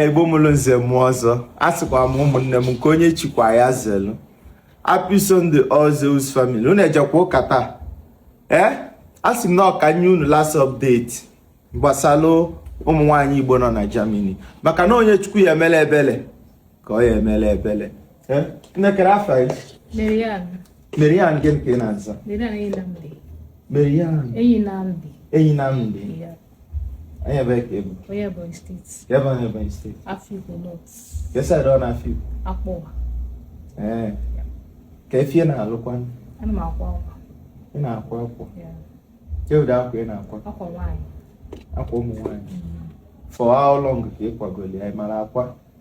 igbo mụrụ nze mụọ ọzọ a sịkwa m ụmụnne m nke onye chikwa ya zelu happy sunday all zeus family unu ejekwa ụka taa ee eh? a sị m na ọ ka m nye unu last update gbasara ụmụ nwaanyị igbo nọ na germany maka na onye chukwu ya emele ebele ka ọ ya emele ebele eh? nne kedu afa gị marian gịnị ka ị na-aza marian enyi na mbe Onye ebee ka ị bụ? Onye Ebonyi steeti. Ke ebe na Ebonyi steeti? Afikpo North. Ke side na Afikpo? Akpoha. Ee. Eh. Ke ife ị na-alụkwa? Ana m akwa akwa. Ị na-akwa akwa? Ke ụdị akwa ị na-akwa? Akwa nwaanyị. Akwa ụmụ nwaanyị. Mm. For how long ka ị kwagoli? Ah ị mara akwa?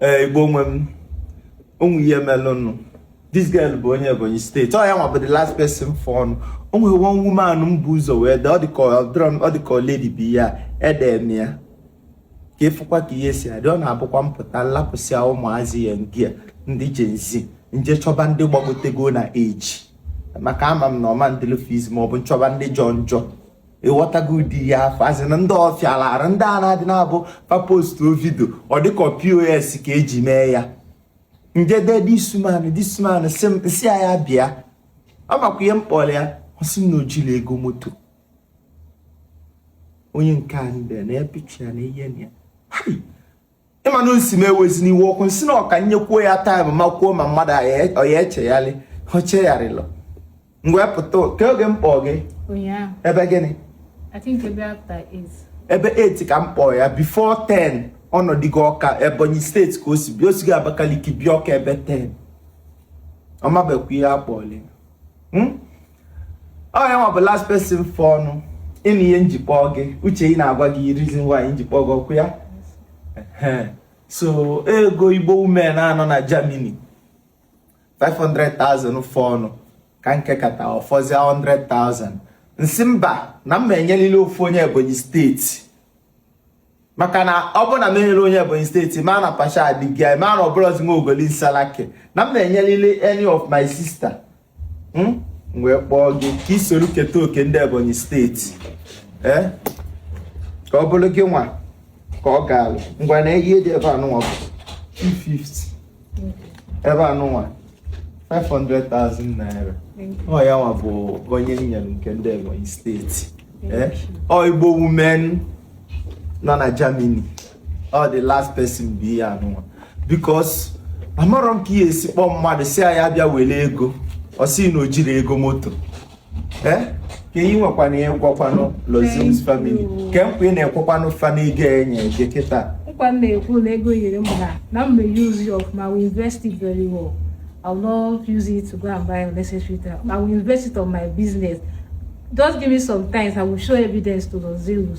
ee igbo nwe m o nwe ihe melụnụ this girl bụ onye ebonyi steeti ọ ya nwa bụ the last person fọọnụ o nwere one woman m bu ụzọ wee dee ọ dịka ọ dịka lady bụ ya edee m ya ka ị fụkwa ka ihe si adị ọ na-abụkwa m pụta lapụsịa ụmụazị a ndị a ndị gen z m je chọba ndị gbagotego na age maka ama m na ọ ma-adịlụ fa easy ma ọ bụ m chọba ndị jọ njọ ị ghọtago ụdị ihe afụ a sị na ndị ọ fịalụ arụ ndị a na-adị na-abụ fa post video ọ dịka pos ka e ji mee ya m je dee this woman this woman sị ya bịa amakwa ihe m kpọrọ ya ọ sị m na o jiro ego moto onye nke a dị na picture ya na ihe na ya ị ma na m sị m ewezina iwe ọkụ m sị na ọ ka m nyekwuo ya time makwuo ma mmadụ ọ ya-echegharị o chegharịlọ mgbe pụta ke oge m kpọọ gị ebe gịnị ebe 8 ka m kpọọ ya before 10 ọ nọdụgo ọka ebonyi steeti ka o si bịa o sigo abakaliki bịa ọka ebe 10 ọ mabekwa ihe a kpọọlụ ya hmm? ọ ya nwa bụ last person fọọnụ ị ma ihe m ji kpọọ gị uche ị na-agwa gị reason why m ji kpọọ gị oku ya so ego igbo women nọ na Germany 500,000 fọọnụ ka m kekata ọ fọzia 100,000 m sị mba na m ma-enyelili ofu onye Ebonyi steeti maka na ọ bụ na m enyero onye Ebonyi steeti ma na partial adịgo ya mana ọ bụlọzi m ogoli nsalake na m ma-enyelili any of my sister hmm? wee kpọọ gị ka i soro keta oke ndị Ebonyi steeti eh? ka ọ bụrụ gị nwa ka ọ ga-alụ ngwanụ ihe dị ebe a nụwa bụ 250 ebe anụnwa 500,000 naira ọ ya nwa bụ onye nyere nke ndị Ebonyi steeti eh? ọ Igbo women nọ na Germany ọ the last person bụ ihe anụnwa because amarọ m ka ị ya-esi kpọọ mmadụ sị ya bịa were ego ọ sị na o jirọ ego moto ee eh? ka ị nwekwana ihe gwakwanụ Lord Zeus family kee nkwa ị na-ekwekwanụ fa n'ego enye gị kịta nkwa m na-ekwe n'ego e nyere m na na m ya-use it ọfụma wee invest it very well I will not use it to go and buy unnecessary things I will invest it on my business just give me some time I will show evidence to Lord Zeus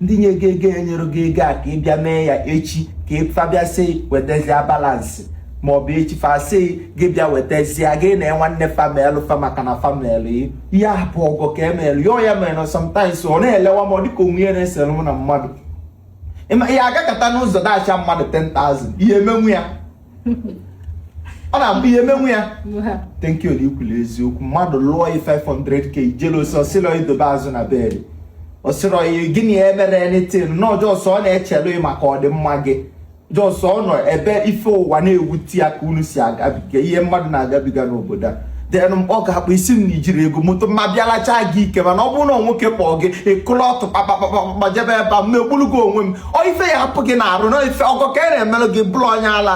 ndị nye gị ego enyerọ gị ego a ka ị bịa mee ya echi ka fa bịa sị wetazie balance ma ọ bụ echi fa sị gị bịa wetazie gị na nwanne famelụ fa maka na fa melụ ihe a bụ ọgọ ka e melụ ya ọ ya mere na sometimes ọ na-elewa ma ọ dịka onwe ya na-esere mụ na mmadụ ya-agakata n'ụzọ dashịa mmadụ 10,000 ị ya-emenwu ya ọ na-abụ ị ya-emenwu ya thank you na i kwulu eziokwu mmadụ lụọ ya 500k ijele osi ọ sịrọ ị dobe azụ na bed ọ sịrọ ya gịnị ya emere anything no just ọ na-echelu ị maka ọdịmma gị just ọ nọ ebe ife ụwa na-ewute ya ka unu si agabiga ihe mmadụ na-agabiga n'obodo a then ọ ga-akpọ ị sị m na i jirọ ego moto m abịa lachaa gị ike mana ọ bụrụ na nwoke kpọọ gị ị kwụlụ ọtọ kpakpakpakpa jebe ebe a m na-egburu gị onwe m ife ya hapụ gị na-arụ na ife ọgọ ka e na-emelụ gị bụrụ onye ala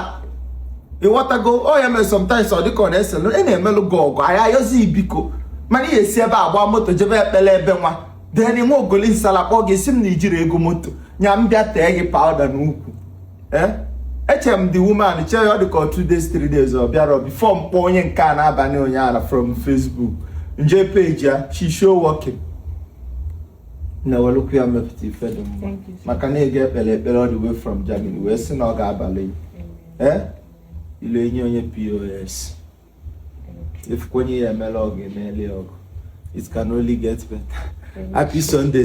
ị ghọtago ọ ya mere sometimes ọ dịka ọ na-ese ị na-emelụ gị ọgọ anyị ayọzi biko mana ị ya-esi ebe a gbaa moto jebe ekpele ebe nwa then nwe ogoli nsala kpọọ gị ị sị m na i jirọ ego moto nya m bịa tee gị pawuda n'ukwu eh? echere m the woman chere ya ọ dịka two days three days ọ bịarọ before m kpọọ onye nke a n'abalị ụnyaahụ from Facebook m je page ya she show working na-ewelụkwu ya mepụta ife dị mma maka na ị ga-ekpere ekpere all the way from Germany wee sị na ọ ga-abalụ ị ee eh? i lue nye onye POS ifukwenye ya emela ọgọ emela ọgọ it can only get better happy Sunday